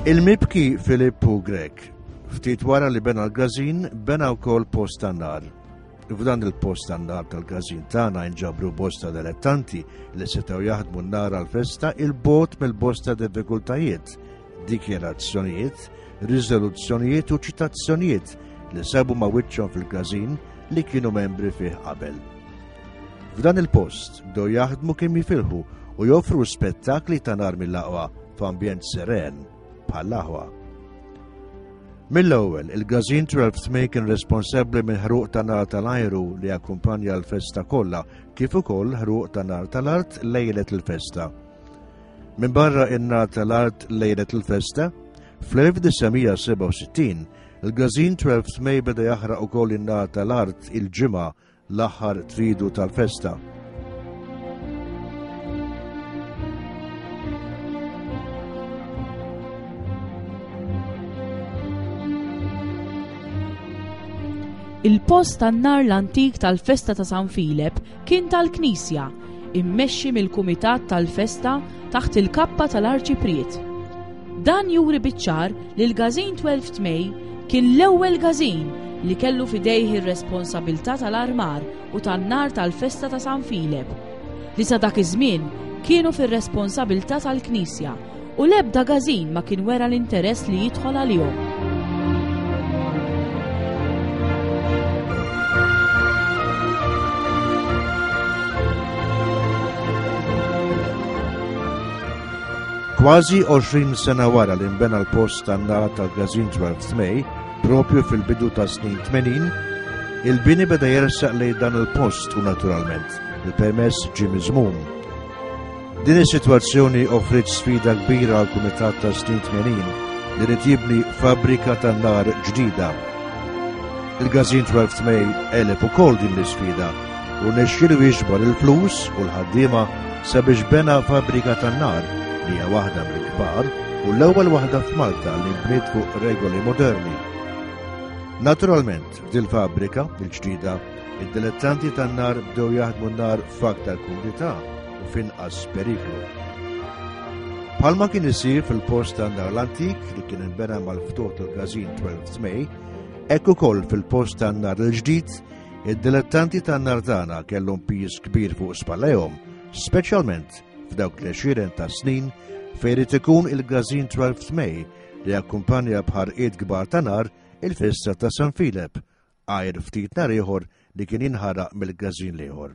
Il-mibki Filippu Grek, ftit wara li bena l-gazin, bena wkoll post tan-nar. F'dan il-post tan-nar tal-gazin tagħna nġabru bosta delettanti li setgħu jaħdmu n-nar għal-festa il-bot mill-bosta diffikultajiet, dikjerazzjonijiet, riżoluzzjonijiet u ċitazzjonijiet li sabu ma' wiċċhom fil-gazin li kienu membri fih qabel. F'dan il-post bdew jaħdmu kemm jifilħu u joffru spettakli ta' nar mill-aqwa f'ambjent seren bħall-aħwa. Mill-ewwel, il-Gazin 12 Tmej kien responsabbli minn ħruq ta' nar tal-ajru li akkumpanja l-festa kollha, kif ukoll ħruq ta' nar tal-art lejlet il-festa. Minn barra in-nar tal-art lejlet il-festa, fl-1967, il-Gazin 12 Tmej beda jaħraq ukoll in-nar tal-art il-ġimgħa L-aħħar tridu tal-festa. Il-post tan-nar l-antik tal-festa ta' San Filep kien tal-Knisja, immexxi mill-Kumitat tal-Festa taħt il-kappa tal-Arċipriet. Dan juri biċ-ċar li l-Gazin 12 May kien l-ewwel gazin li kellu fidejh ir-responsabilità tal-armar u tan-nar tal-festa ta' San Filep, li sa dak iż-żmien kienu fir-responsabilità tal-Knisja u l-ebda gazin ma kien wera l-interess li jidħol għalihom. Kważi 20 sena wara li nbena l-post tan-nara tal-Gazin 12 May, propju fil-bidu ta' snin 80, il-bini beda jersaq lej dan il-post u naturalment il-permess ġie miżmum. Din is-sitwazzjoni offriet sfida kbira għal kumitat ta' snin 80 li rid jibni fabbrika tan-nar ġdida. Il-Gazin 12 May eleb ukoll din l-isfida u nexxielu jiġbor il-flus u l-ħaddiema sabiex bena fabrika tan-nar li hija waħda mill-kbar u l-ewwel waħda f'Malta li bniet fuq regoli moderni. Naturalment, dil-fabrika, il-ġdida, id-dilettanti tan-nar bdew jaħdmu n-nar f'aktar kumdità u finqas periklu. Palma kien isir fil-post tan-nar l-antik li kien inbena mal-ftuħ tal-gazin 12 May, ekku koll fil-post tan-nar l-ġdid Id-dilettanti tan-nar tagħna kellhom pis kbir fuq spallejhom, speċjalment f'dawk li xiren ta' snin fejn irid ikun il-gażin 12 May li akkumpanja bħar id kbar ta' nar il-festa ta' San Filep, għajr ftit nar ieħor li kien jinħaraq mill-gażin l-ieħor.